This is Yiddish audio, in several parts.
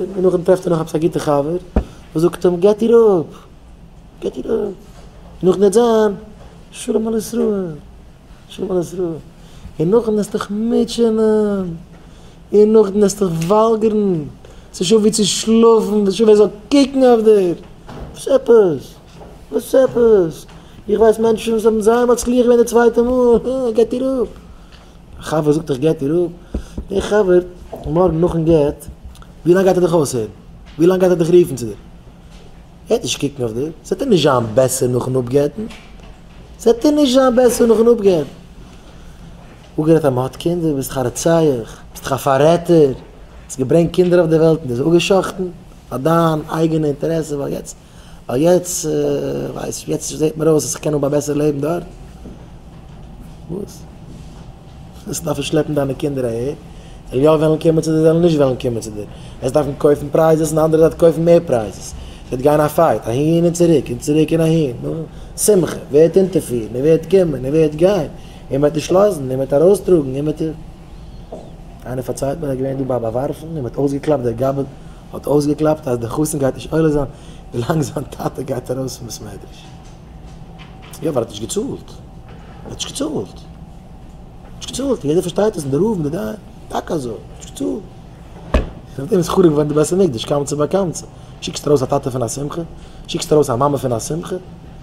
און נאכדעם טרעפט ער נאך עפעס א גוטע חבר וואס זאגט אים געט איר אפ, געט איר אפ, און נאכדעם וועט זיין שלום על ישראל, שלום על ישראל, און נאכדעם וועסטוך מוטשענען, און נאכדעם וועסטוך וואלגערן, ס'איז שוין ווי צו שלאפן, ווילסט שוין ווער זאל קוקן אויף דיר, וואס עפעס, וואס עפעס, איך ווייס מענטשן וואס האבן זייער מצליח געווען די צווייטע מאל, אה, געט איר אפ, א חבר זאגט איך גט איר אפ, דער חבר מארגן נאכן גט, ווי לאנג גייט ער דיך אויסהערן? ווי לאנג גייט ער דיך רופן צו דיר? ער וועט נישט קוקן אויף דיר, ס'וועט אים נישט זיין בעסער נאכן אפגט'ן, ס'וועט אים נישט זיין בעסער נאכן אפגעבן. אפגערעדט אז מען האט קינדער, ביסט דיך א רוצח, ביסט דיך א פאררעטער, האסט געברענגט קינדער אויף די וועלט און די זיי אפגע'שחט'ן פאר דיין אייגענע אינטערעסע, ווייל יעצט ווייל יעצט ווייס איך, יעצט זעט מיר אויס אז כ'קען האבן א בעסערע לעבן דארט. וואס? וועסט דארפן שלעפן דיינע קינדער אהער? זיי וועלן יא וועלן קומען צו דיר, זיי וועלן נישט וועלן קומען צו דיר. וועסט דארפן קויפן פרייזעס און די אנדערע זייט קויפן מער פרייזעס. ס'וועט גיין א פייט אהין און צוריק און צוריק און אהין. נו, שמחה ווערט אונטערפירן, און ווערט קומען און ווערט גיין, און מ'וועט נישט לאזן, און מ'וועט ארויסטראגן, און מ'וועט. איינער פארציילט מיר אז געווען דא ביי באווארפן און מ'האט אויסגעקלאפט דער גאבד האט אויסגעקלאפט אז דער חתן גייט נישט עולה זיין ווילאנג זיין טאטע גייט ארויס פון בית מדרש. יא ווייל ער האט נישט געצאלט. ער האט נישט געצאלט. נישט געצאלט. יעדער פארשטייט דאס און די רב און די דיין. טאקע אזוי. נישט געצאלט. נאך דעם איז חרוב געווארן די בית המקדש. קמצא בר קמצא. שיקסט ארויס א טאטע פון א שמחה? שיקסט ארויס א מאמע פון א שמחה?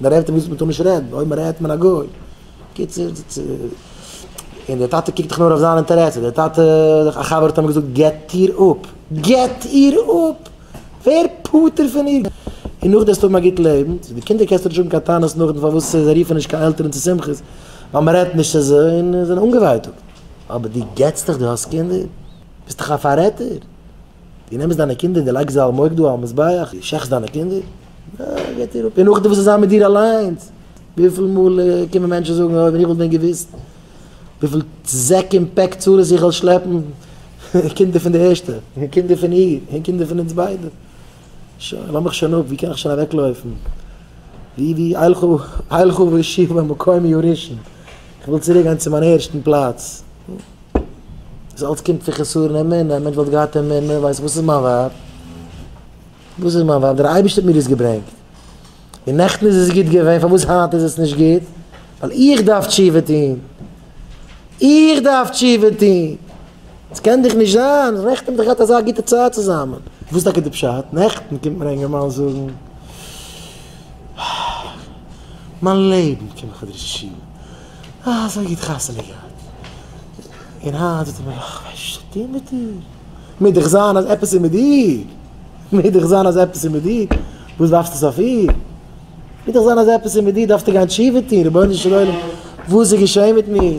מען רעדט ווי מען טאר נישט רעדן, אויב מען רעדט מיט א גוי, קיצור, און דער טאטע קוקט דאך נאר אויף זיין אינטערעסע, דער טאטע, א חבר האט אים געזאגט געט איר אפ, געט איר אפ! ווער פטור פון איר, און נאך דעס האבן א גוט לעבן, צו די קינדער קענסטו נישט האבן קיין טענות נאכדעם פארוואס זיי רופן נישט קיין עלטערן צו שמחות, ווייל מען רעדט נישט צו זיי און זיי זענען אנגעווייטאגט, אבער דו געטסט דאך, דו האסט קינדער, ביסט דאך א פאררעטער, דו נעמסט דיינע קינדער און דו לייגסט זיי על מוקדה, על מזבח, דו שעכטסט דיינע קינדער. אה, געט איר אפ. און נאכדעם וואס איז זיין מיט דיר אליינס? וויפיל מאל קומען מענטשן זאגן, אוי, ווען איך וואלט ווען געוואוסט וויפיל זעק און פעק צרות איך וועל שלעפן, קינדער פון די ערשטע, און קינדער פון איר, און קינדער פון אונז ביידע. שוין, לאז מיך שוין אפ, ווי קען איך שוין אוועקלויפן? ווי, ווי, אילכו, אילכו ואשיב למקומי הראשון. איך וויל צוריק גיין צו מיין ערשטן פלאץ. דאס אלץ קומט פון חסרון אמונה, א מענטש וואלט געהאט אמונה, ווייסט וואס איז מיין ווייב? וואס איז מיין ווייב? דער אייבערשטער האט מיר דאס געברענגט, און נעכטן איז עס גוט געווען, פארוואס היינט איז עס נישט גוט? ווייל איך דארף תשובה טון, איך דארף תשובה טון, עס קען דאך נישט זיין, נעכטן האט מען דאך געהאט אזא גוטע צייט צוזאמען, וואס איז טאקע די פשט? נעכטן קומט מיר א אינגערמאן זאגן, מיין לעבן קען איך אדרעס ישיבה, אזוי גוט חתונה געהאט, און היינט זאגט ער מיר, איך ווייס נישט וואס צו טון מיט דיר. מוז דאך זיין אז עפעס איז מיט דיר, מוז דאך זיין אז עפעס איז מיט דיר, וואס ווארפסטו עס אויף איר? מוז דאך זיין אז עפעס איז מיט דיר, דארפסטו גיין תשובה טון, רבונו של עולם, וואס איז געשען מיט מיר?